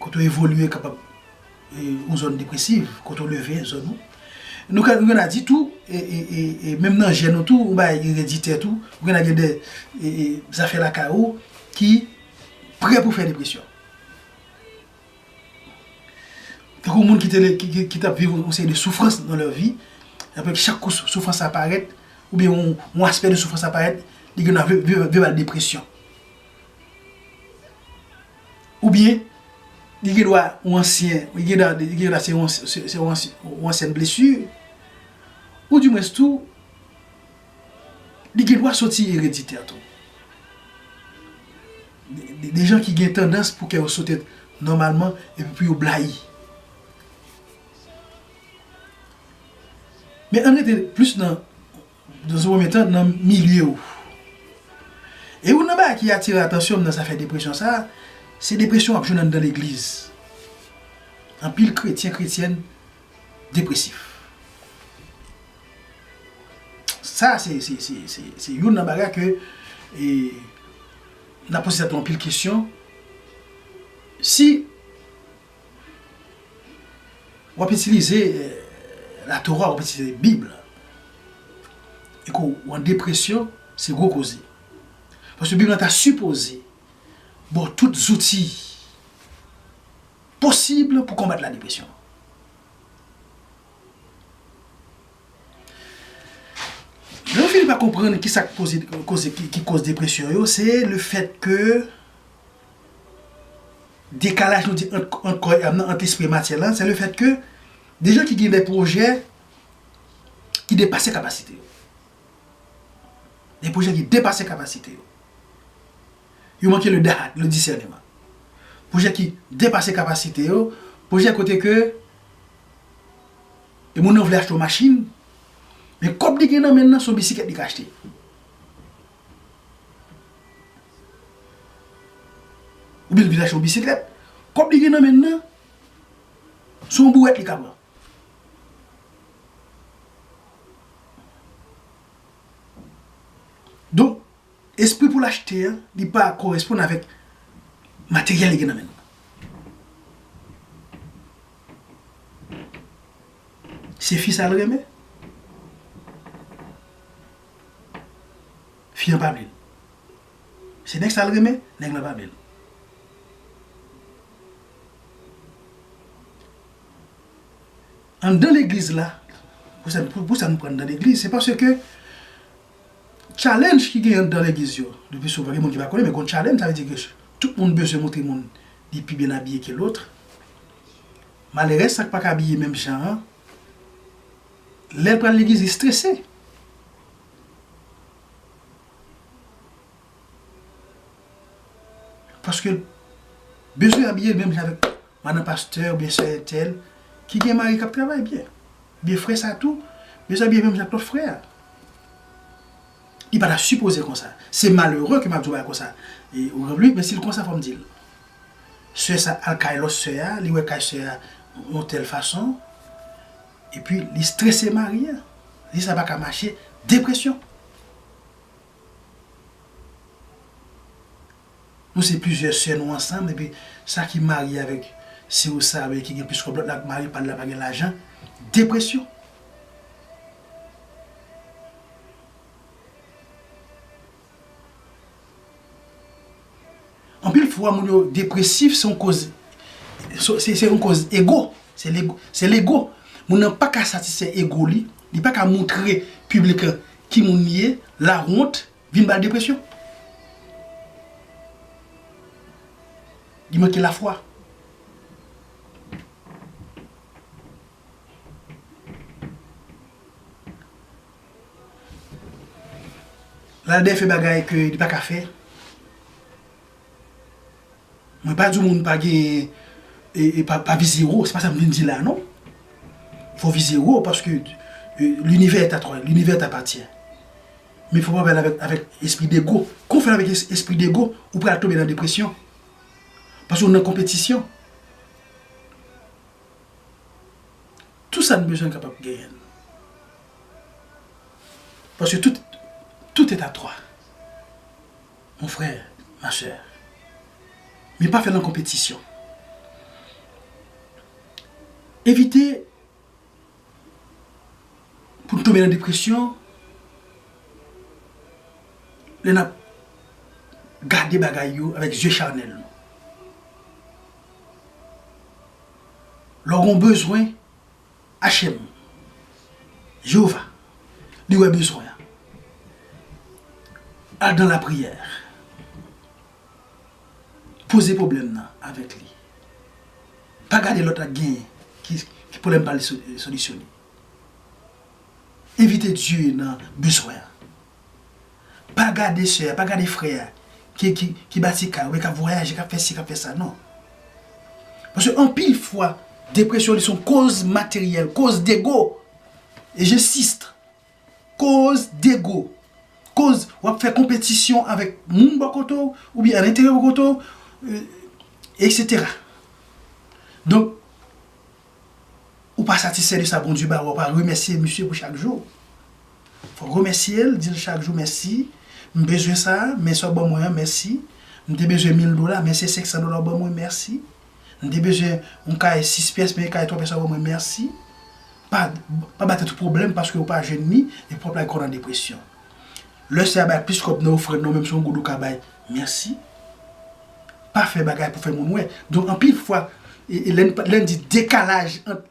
Kote ou evolye kapab yon zòn depresiv, kote ou leve, zòn ou. Nou ka nou genna di tou, e menm nan jèn ou tou, yon bagay ki ereditè tou, ou genna gen de zafè lakay ou ki prè pou fè depresyon. Tankou moun ki te ki tap viv yon seri de soufrans nan lè vi, apre ki chak kou soufrans sa parèt, ou byen yon aspè de soufrans sa parèt, li genna vire al depresyon. Ou byen, li gen dwa yon ansyen, li gen dwa se yon ansyen blesi, ou di mwens tou, li gen dwa soti ereditè tou. De jan ki gen tandans pou kè yo sote nòmalman epi pou yo blayi. Men an rete plis nan Dans un premier temps nan milye ou. E youn nan bagay ki atire atansyon m nan zafè depresyon sa, se depresyon w ap jwenn anndan legliz. Anpil kretyen, kretyèn depresif. Sa se se youn nan bagay ke e nan poze tèt nou anpil kesyon si W ap itilize Latora, w ap itilize Bib la, e ke w an depresyon, se gwo koze. Paske Bib la ta sipoze ba w tout zouti posib pou konbat ladepresyon. Lè w fini pa konprann ki sa ki koze depresyon yo, se lefèt ke. dekalaj nou di ant kò e am nan, ant lespri e matyè lan, se le fèt ke gen jan ki gen de pwojè ki depase kapasite yo. Gen pwojè ki depase kapasite yo. Yo manke le dahat, le disèneman. Pwojè ki depase kapasite yo, pwojè kote ke e moun nan vle achte yon machin, men kòb li gen nan men nan se yon bisikèt li ka achte. Oubyen li vin achte yon bisiklèt. Kòb li gen nan men l lan, se yon bouwèt li ka pran. Donk, espri pou l achte a, li pa koresponn avèk materyèl li gen nan men l lan. Se fi sa l renmen? Fi an pa vle l. Se nèg sa l renmen, nèg lan pa vle l. Anndan legliz la, pou sa nou pran anndan legliz, se paske tchalenj ki gen anndan legliz yo, le pli souvan gen moun ki pa konnen men gon tchalenj, sa vle di ke tout moun bezwen montre moun li pi byen abiye ke lòt. Malèrès sa k pa ka abiye menm jan an, Lèl pral legliz li strese. Paskel bezwen abiye l menm jan avèk madan pastè oubyen sè entèl ki gen mari kap travay byen. Oubyen frè sa tou bezwen abiye menm jan ak lòt frè a. Li pata sipoze konsa. Se malere ke map di w bagay konsa. Ou konprann? Men sil konsa fòm dil. Sè sa al kay lòt sè a, li wè kay sè a yon tèl fason. Epi li strese mari an. Li sa pa ka mache. Depresyon. Nou se plizyè sè nou ansanm epi sa ki marye avèk sè ou sa ki gen plis kòb lòt la ak mari pa l la pa gen lajan. Depresyon. Anpil fwa moun yo depresif se yon koz se yon koz ego se lego moun nan pa ka satisfè ego li li pa ka moutre piblik lan ki moun li ye lawont vin ba l depresyon li manke lafwa. Lalbè fè bagay ke li paka fè. Mwen pa di moun pa gen e pa vize wo, se pa sa m vin di la non. Fò vize wo paske linivè est à toi, linivè t'appartient. Men fò pa fè l avèk espri dego. Kon w fè l avèk espri dego, ou pral tonbe nan depresyon. Paske w nan konpetisyon. Tou sa n bezwen n kapab genyen l. Paske tout, tout est à toi. Mon frère, ma soeur. Men pa fè l an konpetisyon. Evite pou n tonbe nan depresyon lè n ap gade bagay yo avèk zye chanèl nou. Lè w gen yon bezwen. HM. Jewova, li wè bezwen an. Al dan lapriyè. Poze pwoblèm nan avèk li. Pa gade lòt ak genyen ki pwoblèm pa li solisyone. Envite Dye nan bezwen an. Pa gade sè a, pa gade frè a ki bati kay ou byen k ap vwayaje, k ap fè si, k ap fè sa. Non. Paske anpil fwa, depresyon li se yon koz materyèl, koz dego. E jensiste. Koz dego. Koz w ap fè konpetisyon avèk moun bò kote w, oubyen alenteryè bò kote w, eksetera. Donk, ou pa satisfè de sa Bondye ba ou, ou pa remèsye misye pou chak jou. Fò w remèsye l, di l chak jou mèsi, m bezwen sa, men sa w ban mwen an, mèsi. M te bezwen mil dola, men se senksan dola ou ban mwen, mèsi. M te bezwen yon kay sis pyès, men kay twa pyès sa ou ban mwen, mèsi. Pa ba tèt ou pwoblèm paske ou pa jwenn ni, epi w ap lage kò w nan depresyon. Lè Senyè a bay plis kòb nan ofrann nan, menm si se yon goud ou ka bay, mèsi. pa fè bagay pou fè moun wè. Donk anpil fwa lè n di dekalaj ant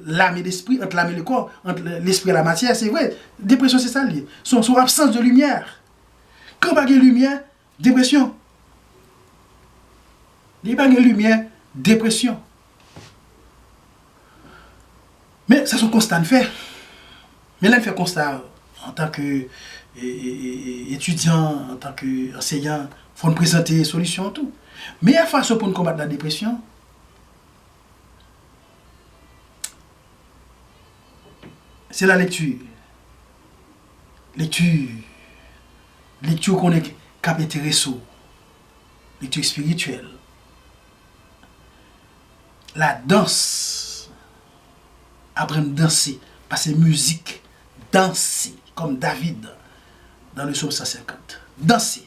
lame e lespri, ant lame e le kò, ant lespri e la matyè, se vre, depresyon se sa l ye. Se yon absans de limyè. Kan pa gen limyè, depresyon. Lè pa gen limyè, depresyon. Men sa son konsta n fè. Men lè n fè konsta antan ke etidyan, antan ke anseyan, fò n prezante solisyon tou. Meyè fason pou n konbat la depresyon, se la lekti. Lekti, lekti ou konnen k ap enterese w. Lekti espirityèl. La dans Aprann danse Pase mizik Danse Kòm David Dans le Somme 150 Danse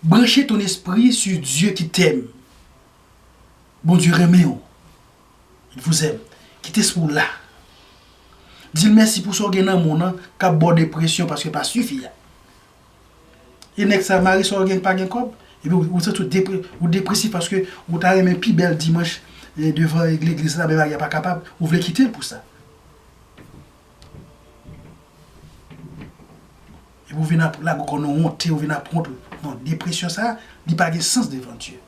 Branche ton esprit sur Dieu qui t'aime Bondye renmen ou Il vous aime Kit es pou w la Di l mèsi pou sa w gen nan moun an k ap ba w depresyon paske l pa sifi a. E nèg sa mari sa ou gen pa gen kòb epi ou santi ou depre ou depresif paske ou ta renmen pi bèl dimanch devan legliz la men mari a pa kapab ou vle kite l pou sa epi ou vin ap lage kò nan wonte ou vin ap wont non depresyon sa li pa gen sans devan Dye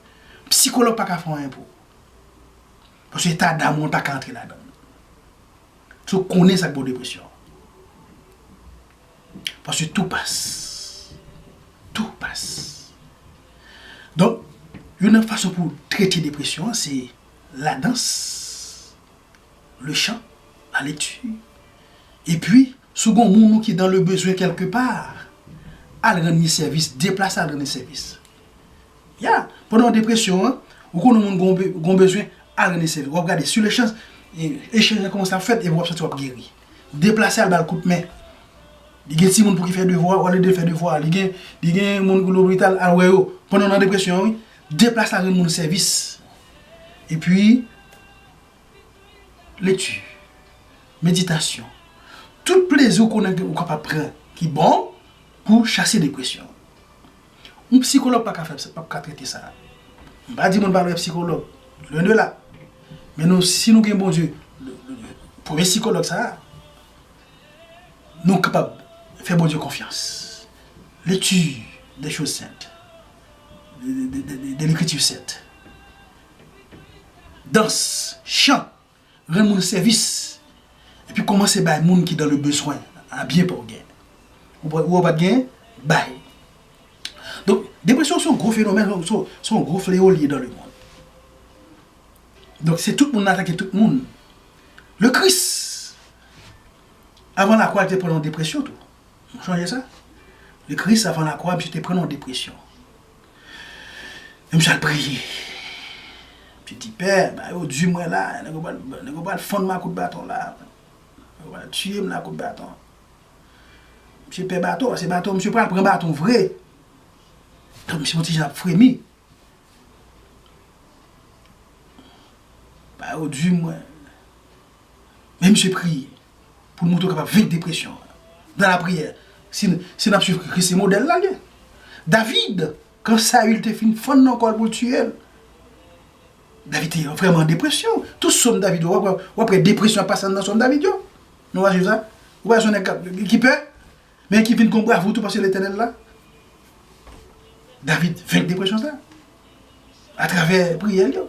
psikològ pa ka fè anyen pou ou paske eta dam ou an pa ka antre ladan l se ou k konnen sa k ba w depresyon an. Paske tou pas. Tou pas. Donk, youn nan fason pou trete depresyon an se la dans, le chan, la lekti. E pi, si w gen yon moun ou ki dan le bezwen kèlke pa, al rann li sèvis, deplase al rann li sèvis. Ya! Pandan depresyon an, ou konnen yon moun gen yon bezwen, al rann li sèvis. W ap gade, si le chan, echanj lan kòmanse ap fèt epi w ap santi w ap geri. deplase al ba l kout men. Li gen timoun pou ki fè devwa, olye de l fè devwa, li gen li gen moun ki lopital al wè yo pandan w nan depresyon an wi. Deplase al rann moun sèvis. Epi, lekti, meditasyon, tout plezi ou konnen ke ou kapab pran ki bon pou chase depresyon. Yon psikològ pa ka fè sa, pap ka trete sa. M pa di moun pa wè psikològ, lwen de la. Men nou si nou gen Bondye, premye psikològ sa a, nou kapab fè Bondye konfyans. Lekti de choz sent, de lekritif sent, dans, chan. Rann moun sèvis epi kòmanse bay moun ki dan le bezwen a byen paw gen. Ou pa ou pat gen, bay. Donk depresyon son gwo fenomèn son gwo fleo li ye dan le mond. Donk se tout moun atake tout moun. Le Kris avan lakwa li te pran yon depresyon tou. Ou sonje sa? Le Kris avan lakwa misye te pran yon depresyon. Yo msal priye. Msye di pè, ba yo di mwen la, nèg yo pral, nèg yo pral fann mwen a kout baton la. Yo pral tiye m la a kout baton. Msye pè baton, se baton, msye pral pran baton vre. Tank msye yon ti jan ap fremi. Ba yo di mwen. Men msye priye. pou nou tou kapab venk depresyon an nan lapriyè si nap swiv Kris se modèl la gen David kan Saül te fin fann nan kòl poul tiyel David te vrèman an depresyon tout som David yo wap wè depresyon ap pase anndan som David yo nou pa swiv sa ou pa wè son nèg kap ki pè Men ki vin kon bravo tou paske Letènèl la. David venk depresyon sa a travè priyè l yo.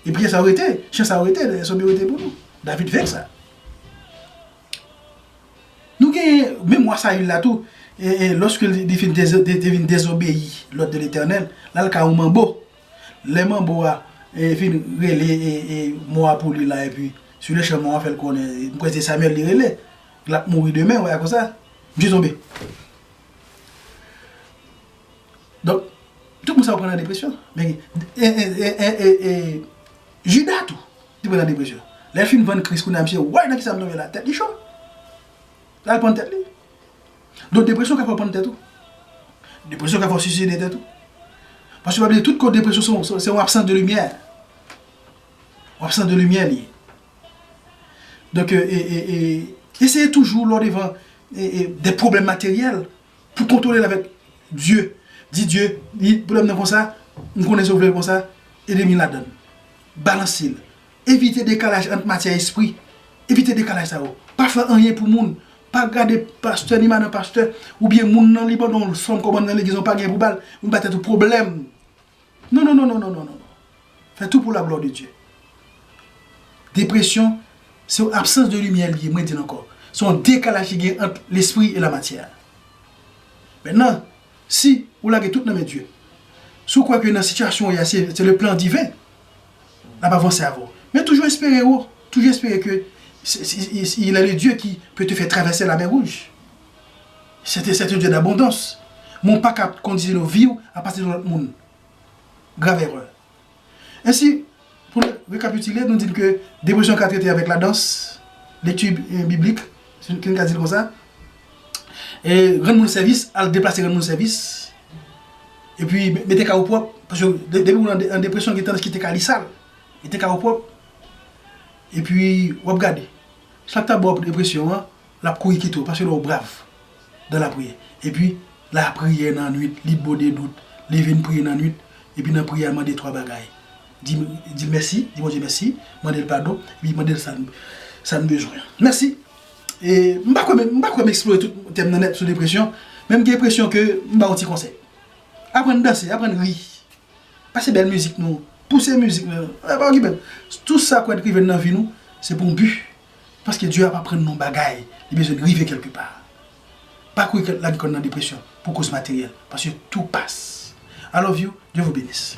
E priyè sa yo rete, chan sa yo rete, sòm yo rete pou nou. David venk sa. Nou gen memwa Saül la tou, e lòske li te vin dezobeyi lòd de Letènèl, l al ka yon manbo. Lè manbo a vin rele mò a pou li la epi, silechan mò a fè l konnen, mwen kwè se Samuel li rele. Lap mouri demen wè konsa. Misye tonbe. Donk tout moun sa yo pran nan depresyon. Men e Juda tou te pran nan depresyon. Lè l fin vann Kris kounya misye woy nan kisa m tonbe la. Tèt li cho. Lal pann tèt li. Donk depresyon ka fè w pann tèt ou. Depresyon ka fè w siside tèt ou. Paske pa bliye tout koz depresyon se yon absans de limyè. Yon absans de limyè li ye. Donk eseye toujou lè w devan de pwoblèm materyèl pou kontwole l avèk Dye. Di Dye, pwoblèm nan konsa, m konnen se w vle l konsa, ede m ladan l. Balanse l. Evite dekalaj ant matyè espri. Evite dekalaj sa yo. Pa fè anyen pou moun. Pa gade pastè ni madan pastè oubyen moun nan li ban w fanm kòmandan legliz lan w pa gen pou ba l. Ou pa tèt ou pwoblèm. Non non non non non non non fè tou pou la glwa de Dye depresyon se yon absans de limyè li ye mwen dil ankò se yon dekalaj ki gen ant lespri e la matyè a mètnan si ou lage tout nan men Dye si ou kwè ke nan sitiyasyon ou ye a se se le plan diven lap avanse avèw men toujou espere wo toujou espere ke se se il est le Dieu qui peut te faire traverser la mer rouge. Sete sete Dieu d'abondance men ou paka kondisione viw a pati de lòt moun grave erreur ainsi pou nou rekapitile nou di ke depresyon ka trete avèk la dans lecture biblique si nou ka dil konsa e rann moun sèvis al deplase rann moun sèvis epi mete kay ou pwòp paske depi moun an depresyon gen tandans kite kay li sal mete kay ou pwòp epi wap gade sak ta baw depresyon an Lap kouri kite w paske l wè w brav dan lapriyè. Epi la priyè nan nwit li bode dout li vin priye nan nwit epi nan priyè a mande 3 bagay di di l mèsi di Bondye mèsi mande l padon epi mande l sa n sa n bezwen. Mèsi e m pa kwè m pa kwè m eksplore tout tèm nan nèt sou depresyon men m gen enpresyon ke m ba w ti konsèy. Aprann danse aprann ri pase bèl mizik nou pouse mizik nou pa okipe l tout sa kwè t rive nan vi nou se pou yon bi. Paske Dye ap aprann nou yon bagay, li bezwen n rive kèlke pa. Pa kouri kont lavi kò n nan depresyon pou koz materyèl, paske tou pas. I love you, Dieu vous benisse.